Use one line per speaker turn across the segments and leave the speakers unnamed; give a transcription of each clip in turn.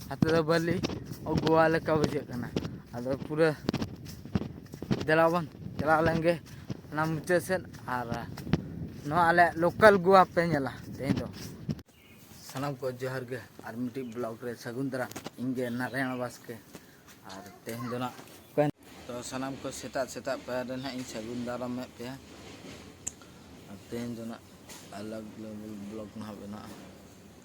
ᱦᱟᱛᱮ ᱫᱚ ᱵᱟᱹᱞᱤ ᱜᱳᱣᱟ ᱞᱮᱠᱟ ᱵᱩᱡᱷᱟᱹᱜ ᱠᱟᱱᱟ ᱟᱫᱚ ᱯᱩᱨᱟᱹ ᱫᱮᱞᱟ ᱵᱚᱱ ᱪᱟᱞᱟᱣ ᱞᱮᱱ ᱜᱮ ᱚᱱᱟ ᱢᱩᱪᱟᱹᱫ ᱥᱮᱫ ᱟᱨ ᱱᱚᱣᱟ ᱟᱞᱮ ᱞᱳᱠᱟᱞ ᱜᱳᱣᱟ ᱯᱮ ᱧᱮᱞᱟ ᱛᱮᱦᱮᱧ ᱫᱚ ᱥᱟᱱᱟᱢ ᱠᱚ ᱡᱚᱦᱟᱨ ᱜᱮ ᱟᱨ ᱢᱤᱫᱴᱤᱡ ᱵᱞᱚᱜ ᱨᱮ ᱥᱟᱹᱜᱩᱱ ᱫᱟᱨᱟᱢ ᱤᱧ ᱜᱮ ᱱᱟᱨᱟᱭᱚᱱ ᱵᱟᱥᱠᱮ ᱟᱨ ᱛᱮᱦᱮᱧ ᱫᱚ ᱱᱟᱜ ᱛᱚ ᱥᱟᱱᱟᱢ ᱠᱚ ᱥᱮᱛᱟᱜ ᱥᱮᱛᱟᱜ ᱯᱟᱭᱟᱨ ᱨᱮ ᱱᱟᱜ ᱤᱧ ᱥᱟᱹᱜᱩᱱ ᱫᱟᱨᱟᱢᱮᱫ ᱯᱮᱭᱟ ᱟᱨ ᱛᱮᱦᱮᱧ ᱫᱚ ᱱᱟᱜ ᱟᱞᱟᱜᱽ ᱞᱮᱵᱮᱞ ᱵᱞᱚᱜ ᱱᱟᱜ ᱵᱮᱱᱟᱜᱼᱟ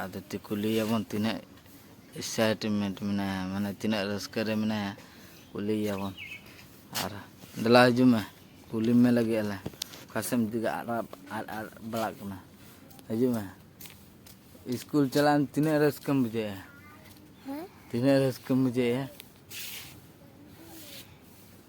ᱟᱫᱚ ᱠᱩᱞᱤᱭᱮᱭᱟᱵᱚᱱ ᱛᱤᱱᱟᱹᱜ ᱮᱠᱥᱟᱭᱴᱢᱮᱱᱴ ᱢᱮᱱᱟᱭᱟ ᱢᱟᱱᱮ ᱛᱤᱱᱟᱹᱜ ᱨᱟᱹᱥᱠᱟᱹ ᱨᱮ ᱢᱮᱱᱟᱭᱟ ᱠᱩᱞᱤᱭᱮᱭᱟᱵᱚᱱ ᱟᱨ ᱫᱮᱞᱟ ᱦᱤᱡᱩᱜ ᱢᱮ ᱠᱩᱞᱤ ᱢᱮ ᱞᱟᱹᱜᱤᱫ ᱟᱞᱮ ᱚᱠᱟ ᱥᱮᱫ ᱮᱢ ᱫᱮᱡᱚᱜᱼᱟ ᱟᱫ ᱟᱫ ᱟᱫ ᱵᱟᱲᱟᱜ ᱠᱟᱱᱟ ᱦᱤᱡᱩᱜ ᱢᱮ ᱥᱠᱩᱞ ᱪᱟᱞᱟᱜ ᱟᱢ ᱛᱤᱱᱟᱹᱜ ᱨᱟᱹᱥᱠᱟᱹᱢ ᱵᱩᱡᱷᱟᱹᱣᱮᱫᱼᱟ ᱛᱤᱱᱟᱹᱜ ᱨᱟᱹᱥᱠᱟᱹᱢ ᱵᱩᱡᱷᱟᱹᱣᱮᱫᱼᱟ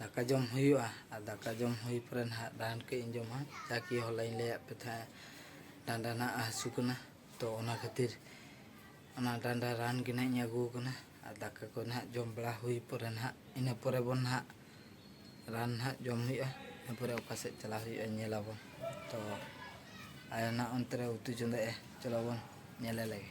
ᱫᱟᱠᱟ ᱡᱚᱢ ᱦᱩᱭᱩᱜᱼᱟ ᱟᱨ ᱫᱟᱠᱟ ᱡᱚᱢ ᱦᱩᱭ ᱯᱚᱨᱮ ᱱᱟᱦᱟᱜ ᱨᱟᱱ ᱠᱟᱹᱡ ᱤᱧ ᱡᱚᱢᱟ ᱡᱟᱠᱤ ᱦᱚᱞᱟᱧ ᱞᱟᱹᱭᱟᱫ ᱯᱮ ᱛᱟᱦᱮᱸᱫ ᱰᱟᱸᱰᱟ ᱱᱟᱦᱟᱜ ᱦᱟᱹᱥᱩ ᱠᱟᱱᱟ ᱛᱚ ᱚᱱᱟ ᱠᱷᱟᱹᱛᱤᱨ ᱚᱱᱟ ᱰᱟᱸᱰᱟ ᱨᱟᱱ ᱜᱮ ᱱᱟᱦᱟᱜ ᱤᱧ ᱟᱹᱜᱩ ᱟᱠᱟᱱᱟ ᱟᱨ ᱫᱟᱠᱟ ᱠᱚ ᱱᱟᱦᱟᱜ ᱡᱚᱢ ᱵᱟᱲᱟ ᱦᱩᱭ ᱯᱚᱨᱮ ᱱᱟᱦᱟᱜ ᱤᱱᱟᱹ ᱯᱚᱨᱮ ᱵᱚᱱ ᱱᱟᱦᱟᱜ ᱨᱟᱱ ᱱᱟᱦᱟᱜ ᱡᱚᱢ ᱦᱩᱭᱩᱜᱼᱟ ᱤᱱᱟᱹ ᱯᱚᱨᱮ ᱚᱠᱟ ᱥᱮᱫ ᱪᱟᱞᱟᱣ ᱦᱩᱭᱩᱜᱼᱟ ᱧᱮᱞ ᱟᱵᱚᱱ ᱛᱚ ᱟᱭᱳ ᱱᱟᱦᱟᱜ ᱚᱱᱛᱮ ᱨᱮ ᱩᱛᱩ ᱪᱚᱸᱫᱟᱭᱮᱫᱼᱟ ᱪᱚᱞᱚ ᱵᱚᱱ ᱧᱮᱞᱮ ᱞᱮᱜᱮ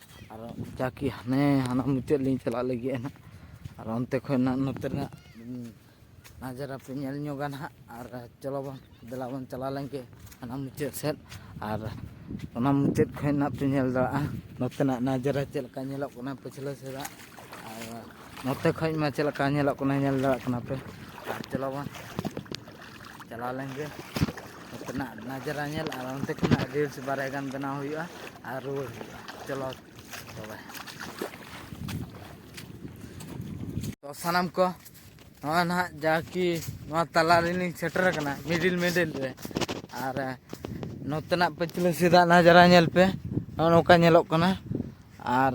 ᱟᱨ ᱚᱱᱠᱟ ᱠᱤ ᱦᱟᱱᱮ ᱦᱟᱱᱟ ᱢᱩᱪᱟᱹᱫ ᱞᱤᱧ ᱪᱟᱞᱟᱜ ᱞᱟᱹᱜᱤᱫ ᱱᱟᱜ ᱟᱨ ᱚᱱᱛᱮ ᱠᱷᱚᱱ ᱱᱟᱜ ᱱᱚᱛᱮ ᱨᱮᱱᱟᱜ ᱱᱟᱡᱟᱨᱟ ᱯᱮ ᱧᱮᱞ ᱧᱚᱜᱟ ᱱᱟᱜ ᱟᱨ ᱪᱚᱞᱚ ᱵᱚᱱ ᱫᱮᱞᱟ ᱵᱚᱱ ᱪᱟᱞᱟᱣ ᱞᱮᱱᱜᱮ ᱦᱟᱱᱟ ᱢᱩᱪᱟᱹᱫ ᱥᱮᱫ ᱟᱨ ᱚᱱᱟ ᱢᱩᱪᱟᱹᱫ ᱠᱷᱚᱱ ᱱᱟᱜ ᱯᱮ ᱧᱮᱞ ᱫᱟᱲᱮᱭᱟᱜᱼᱟ ᱱᱚᱛᱮᱱᱟᱜ ᱱᱟᱡᱟᱨᱟ ᱪᱮᱫ ᱞᱮᱠᱟ ᱧᱮᱞᱚᱜ ᱠᱟᱱᱟ ᱯᱟᱹᱪᱷᱞᱟᱹ ᱥᱮᱫᱟᱜ ᱟᱨ ᱱᱚᱛᱮ ᱠᱷᱚᱱ ᱢᱟ ᱪᱮᱫ ᱞᱮᱠᱟ ᱧᱮᱞᱚᱜ ᱠᱟᱱᱟ ᱧᱮᱞ ᱫᱟᱲᱮᱭᱟᱜ ᱠᱟᱱᱟ ᱯᱮ ᱟᱨ ᱪᱚᱞᱚ ᱵᱚᱱ ᱪᱟᱞᱟᱣ ᱞᱮᱱ ᱜᱮ ᱱᱚᱛᱮᱱᱟᱜ ᱱᱟᱡᱽᱨᱟ ᱧᱮᱞ ᱟᱨ ᱚᱱᱛᱮ ᱠᱷᱚᱱᱟᱜ ᱨᱤᱞᱥ ᱵᱟᱨᱭᱟ ᱜᱟᱱ ᱵᱮᱱᱟᱣ ᱦᱩᱭᱩᱜᱼᱟ ᱟᱨ ᱨᱩᱣᱟᱹᱲ ᱦᱩᱭᱩᱜᱼᱟ ᱪᱚᱞᱚ ᱛᱚᱵᱮ ᱛᱚ ᱥᱟᱱᱟᱢ ᱠᱚ ᱱᱚᱜᱼᱚᱭ ᱱᱟᱦᱟᱜ ᱡᱟ ᱠᱤ ᱱᱚᱣᱟ ᱛᱟᱞᱟ ᱨᱮᱞᱤᱧ ᱥᱮᱴᱮᱨ ᱟᱠᱟᱱᱟ ᱢᱤᱰᱤᱞ ᱢᱤᱰᱤᱞ ᱨᱮ ᱟᱨ ᱱᱚᱛᱮᱱᱟᱜ ᱯᱟᱹᱪᱷᱞᱟᱹ ᱥᱮᱫᱟᱜ ᱱᱟᱡᱽᱨᱟ ᱧᱮᱞ ᱯᱮ ᱱᱚᱜᱼᱚ ᱱᱚᱝᱠᱟ ᱧᱮᱞᱚᱜ ᱠᱟᱱᱟ ᱟᱨ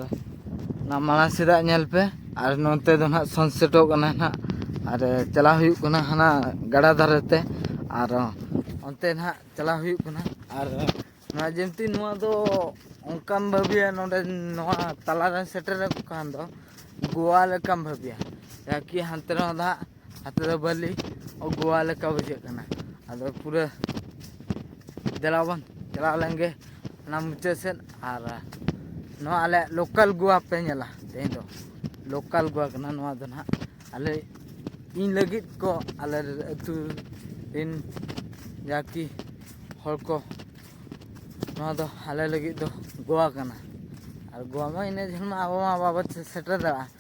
ᱚᱱᱟ ᱢᱟᱲᱟᱝ ᱥᱮᱫᱟᱜ ᱧᱮᱞ ᱯᱮ ᱟᱨ ᱱᱚᱛᱮ ᱫᱚ ᱱᱟᱦᱟᱜ ᱥᱟᱱᱥᱮᱴᱚᱜ ᱠᱟᱱᱟ ᱱᱟᱦᱟᱜ ᱟᱨ ᱪᱟᱞᱟᱣ ᱦᱩᱭᱩᱜ ᱠᱟᱱᱟ ᱦᱟᱱᱟ ᱜᱟᱰᱟ ᱫᱷᱟᱨᱮ ᱛᱮ ᱟᱨ ᱚᱱᱛᱮ ᱱᱟᱦᱟᱜ ᱪᱟᱞᱟᱣ ᱦᱩᱭᱩᱜ ᱠᱟᱱᱟ ᱟᱨ ᱱᱚᱣᱟ ᱡᱤᱱᱛᱤ ᱱᱚᱣᱟ ᱫᱚ ᱚᱱᱠᱟᱢ ᱵᱷᱟᱹᱵᱤᱭᱟ ᱱᱚᱰᱮ ᱱᱚᱣᱟ ᱛᱟᱞᱟ ᱨᱮ ᱥᱮᱴᱮᱨ ᱟᱠᱚ ᱠᱷᱟᱱ ᱫᱚ ᱜᱳᱣᱟ ᱞᱮᱠᱟᱢ ᱵᱷᱟᱹᱵᱤᱭᱟ ᱡᱟᱦᱟᱸ ᱠᱤ ᱦᱟᱱᱛᱮ ᱨᱮᱦᱚᱸ ᱫᱟᱜ ᱦᱟᱛᱮ ᱫᱚ ᱵᱟᱹᱞᱤ ᱜᱳᱣᱟ ᱞᱮᱠᱟ ᱵᱩᱡᱷᱟᱹᱜ ᱠᱟᱱᱟ ᱟᱫᱚ ᱯᱩᱨᱟᱹ ᱫᱮᱞᱟ ᱵᱚᱱ ᱪᱟᱞᱟᱣ ᱞᱮᱱ ᱜᱮ ᱚᱱᱟ ᱢᱩᱪᱟᱹᱫ ᱥᱮᱫ ᱟᱨ ᱱᱚᱣᱟ ᱟᱞᱮ ᱞᱳᱠᱟᱞ ᱜᱳᱣᱟ ᱯᱮ ᱧᱮᱞᱟ ᱛᱮᱦᱮᱧ ᱫᱚ ᱞᱳᱠᱟᱞ ᱜᱳᱣᱟ ᱠᱟᱱᱟ ᱱᱚᱣᱟ ᱫᱚ ᱱᱟᱦᱟᱜ ᱟᱞᱮ ᱤᱧ ᱞᱟᱹᱜᱤᱫ ᱠᱚ ᱟᱞᱮ ᱟᱹᱛᱩ ᱨᱮᱱ ᱡᱟ ᱠᱤ ᱦᱚᱲ ᱠᱚ ᱱᱚᱣᱟ ᱫᱚ ᱟᱞᱮ ᱞᱟᱹᱜᱤᱫ ᱫᱚ ᱜᱳᱣᱟ ᱠᱟᱱᱟ ᱟᱨ ᱜᱳᱣᱟ ᱢᱟ ᱤᱱᱟᱹ ᱡᱷᱟᱹᱞ ᱢᱟ ᱟᱵᱚ ᱢᱟ ᱵᱟᱵᱚ ᱥᱮᱴᱮᱨ ᱫᱟᱲᱮᱭᱟᱜᱼᱟ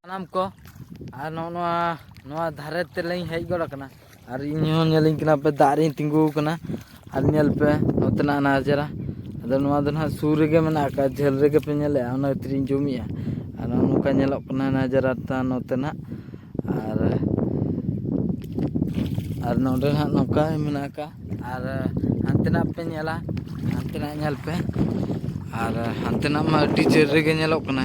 ᱥᱟᱱᱟᱢ ᱠᱚ ᱟᱨ ᱱᱚᱜᱼᱚ ᱱᱚᱣᱟ ᱱᱚᱣᱟ ᱫᱷᱟᱨᱮ ᱛᱮᱞᱤᱧ ᱦᱮᱡ ᱜᱚᱫ ᱟᱠᱟᱱᱟ ᱟᱨ ᱤᱧ ᱦᱚᱸ ᱧᱮᱞᱤᱧ ᱠᱟᱱᱟ ᱯᱮ ᱫᱟᱜ ᱨᱤᱧ ᱛᱤᱸᱜᱩ ᱟᱠᱟᱱᱟ ᱟᱨ ᱧᱮᱞ ᱯᱮ ᱱᱚᱛᱮᱱᱟᱜ ᱚᱱᱟ ᱪᱮᱦᱨᱟ ᱟᱫᱚ ᱱᱚᱣᱟ ᱫᱚ ᱱᱟᱦᱟᱜ ᱥᱩᱨ ᱨᱮᱜᱮ ᱢᱮᱱᱟᱜ ᱟᱠᱟᱫᱼᱟ ᱡᱷᱟᱹᱞ ᱨᱮᱜᱮ ᱯᱮ ᱧᱮᱞᱮᱫᱼᱟ ᱚᱱᱟ ᱠᱷᱟᱹᱛᱤᱨ ᱤᱧ ᱡᱩᱢ ᱮᱫᱼᱟ ᱟᱨ ᱱᱚᱜᱼᱚ ᱱᱚᱝᱠᱟ ᱧᱮᱞᱚᱜ ᱠᱟᱱᱟ ᱱᱟᱡᱟᱨᱟ ᱛᱟᱢ ᱱᱚᱛᱮᱱᱟᱜ ᱟᱨ ᱟᱨ ᱱᱚᱰᱮ ᱦᱟᱸᱜ ᱱᱚᱝᱠᱟ ᱢᱮᱱᱟᱜ ᱟᱠᱟᱫᱼᱟ ᱟᱨ ᱦᱟᱱᱛᱮᱱᱟᱜ ᱯᱮ ᱧᱮᱞᱟ ᱦᱟᱱᱛᱮᱱᱟᱜ ᱧᱮᱞ ᱯᱮ ᱟᱨ ᱦᱟᱱᱛᱮᱱᱟᱜ ᱢᱟ ᱟᱹᱰᱤ ᱡᱷᱟᱹᱞ ᱨᱮᱜᱮ ᱧᱮᱞᱚᱜ ᱠᱟᱱᱟ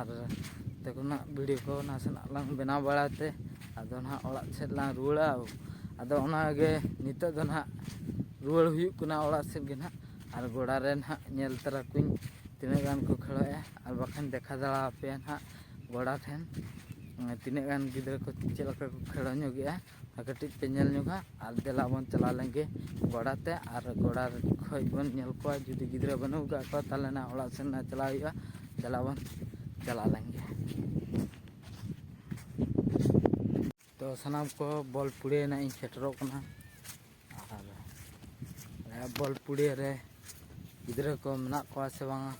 ᱟᱨ ᱚᱱᱛᱮ ᱠᱷᱚᱱᱟᱜ ᱵᱷᱤᱰᱤᱭᱳ ᱠᱚ ᱱᱟᱥᱮᱱᱟᱜ ᱞᱟᱝ ᱵᱮᱱᱟᱣ ᱵᱟᱲᱟᱭ ᱛᱮ ᱟᱫᱚ ᱱᱟᱦᱟᱜ ᱚᱲᱟᱜ ᱥᱮᱫ ᱞᱟᱝ ᱨᱩᱣᱟᱹᱲᱟ ᱟᱫᱚ ᱚᱱᱟᱜᱮ ᱱᱤᱛᱚᱜ ᱫᱚ ᱱᱟᱦᱟᱜ ᱨᱩᱣᱟᱹᱲ ᱦᱩᱭᱩᱜ ᱠᱟᱱᱟ ᱚᱲᱟᱜ ᱥᱮᱫ ᱜᱮ ᱱᱟᱦᱟᱜ ᱟᱨ ᱜᱚᱰᱟ ᱨᱮ ᱱᱟᱦᱟᱜ ᱧᱮᱞ ᱛᱟᱨᱟ ᱠᱚᱣᱟᱧ ᱛᱤᱱᱟᱹᱜ ᱜᱟᱱ ᱠᱚ ᱠᱷᱮᱞᱳᱜᱼᱟ ᱟᱨ ᱵᱟᱠᱷᱟᱱ ᱫᱮᱠᱷᱟᱣ ᱫᱟᱲᱮ ᱟᱯᱮᱭᱟ ᱱᱟᱦᱟᱜ ᱜᱚᱰᱟ ᱴᱷᱮᱱ ᱛᱤᱱᱟᱹᱜ ᱜᱟᱱ ᱜᱤᱫᱽᱨᱟᱹ ᱠᱚ ᱪᱮᱫ ᱞᱮᱠᱟ ᱠᱚ ᱠᱷᱮᱞ ᱧᱚᱜᱮᱜᱼᱟ ᱟᱨ ᱠᱟᱹᱴᱤᱡ ᱯᱮ ᱧᱮᱞ ᱧᱚᱜᱟ ᱟᱨ ᱫᱮᱞᱟ ᱵᱚᱱ ᱪᱟᱞᱟᱣ ᱞᱮᱱᱜᱮ ᱜᱚᱰᱟ ᱛᱮ ᱟᱨ ᱜᱚᱰᱟ ᱠᱷᱚᱡ ᱵᱚᱱ ᱧᱮᱞ ᱠᱚᱣᱟ ᱡᱩᱫᱤ ᱜᱤᱫᱽᱨᱟᱹ ᱵᱟᱹᱱᱩᱜ ᱠᱟᱜ ᱠᱚᱣᱟ ᱛᱟᱦᱚᱞᱮ ᱱᱟᱜ ᱚᱲᱟᱜ ᱥᱮᱱ ᱱᱟᱜ ᱪᱟᱞᱟᱣ ᱦᱩᱭᱩᱜᱼᱟ ᱫᱮᱞᱟ ᱵᱚᱱ ᱪᱟᱞᱟᱣ ᱞᱮᱱᱜᱮ ᱛᱚ ᱥᱟᱱᱟᱢ ᱠᱚ ᱵᱚᱞ ᱯᱩᱲᱤᱭᱟᱹ ᱱᱟᱜ ᱤᱧ ᱥᱮᱴᱮᱨᱚᱜ ᱠᱟᱱᱟ ᱟᱨ ᱵᱚᱞ ᱯᱩᱲᱤᱭᱟᱹ ᱨᱮ ᱜᱤᱫᱽᱨᱟᱹ ᱠᱚ ᱢᱮᱱᱟᱜ ᱠᱚᱣᱟ ᱥᱮ ᱵᱟᱝᱟ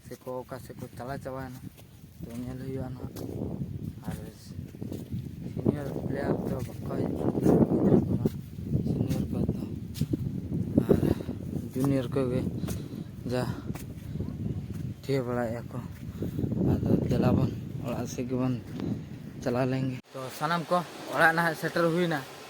ᱥᱮᱠᱚ ᱚᱠᱟ ᱥᱮᱫ ᱠᱚ ᱪᱟᱞᱟ ᱪᱟᱵᱟᱭᱮᱱᱟ ᱛᱚ ᱧᱮᱞ ᱦᱩᱭᱩᱜᱼᱟ ᱱᱟᱦᱟᱜ ᱟᱨ ᱥᱤᱱᱤᱭᱚᱨ ᱯᱞᱮᱭᱟᱨ ᱫᱚ ᱵᱟᱠᱚ ᱦᱮᱡ ᱥᱤᱱᱤᱭᱚᱨ ᱠᱚ ᱫᱚ ᱟᱨ ᱡᱩᱱᱤᱭᱚᱨ ᱠᱚᱜᱮ ᱡᱟ ᱴᱷᱤᱠᱟᱹ ᱵᱟᱲᱟᱭᱮᱫᱼᱟ ᱠᱚ ᱟᱫᱚ ᱫᱮᱞᱟ ᱵᱚᱱ ᱚᱲᱟᱜ ᱥᱮᱫ ᱜᱮᱵᱚᱱ ᱪᱟᱞᱟᱣ ᱞᱮᱱᱜᱮ ᱛᱚ ᱥᱟᱱᱟᱢ ᱠᱚ ᱚᱲᱟᱜ ᱱᱟᱦᱟᱜ ᱥᱮᱴᱮᱨ ᱦᱩᱭᱱᱟ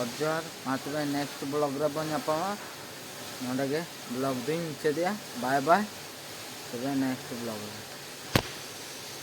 ᱚᱛ ᱡᱚᱦᱟᱨ ᱢᱟ ᱛᱚᱵᱮ ᱱᱮᱠᱥᱴ ᱵᱞᱚᱜ ᱨᱮ ᱵᱚᱱ ᱧᱟᱯᱟᱢᱟ ᱱᱚᱰᱮ ᱜᱮ ᱵᱞᱚᱜ ᱫᱩᱧ ᱢᱩᱪᱟᱹᱫᱮᱜᱼᱟ ᱵᱟᱭ ᱵᱟᱭ ᱛᱚᱵᱮ ᱱᱮᱠᱥᱴ ᱵᱞᱚᱜ ᱨᱮ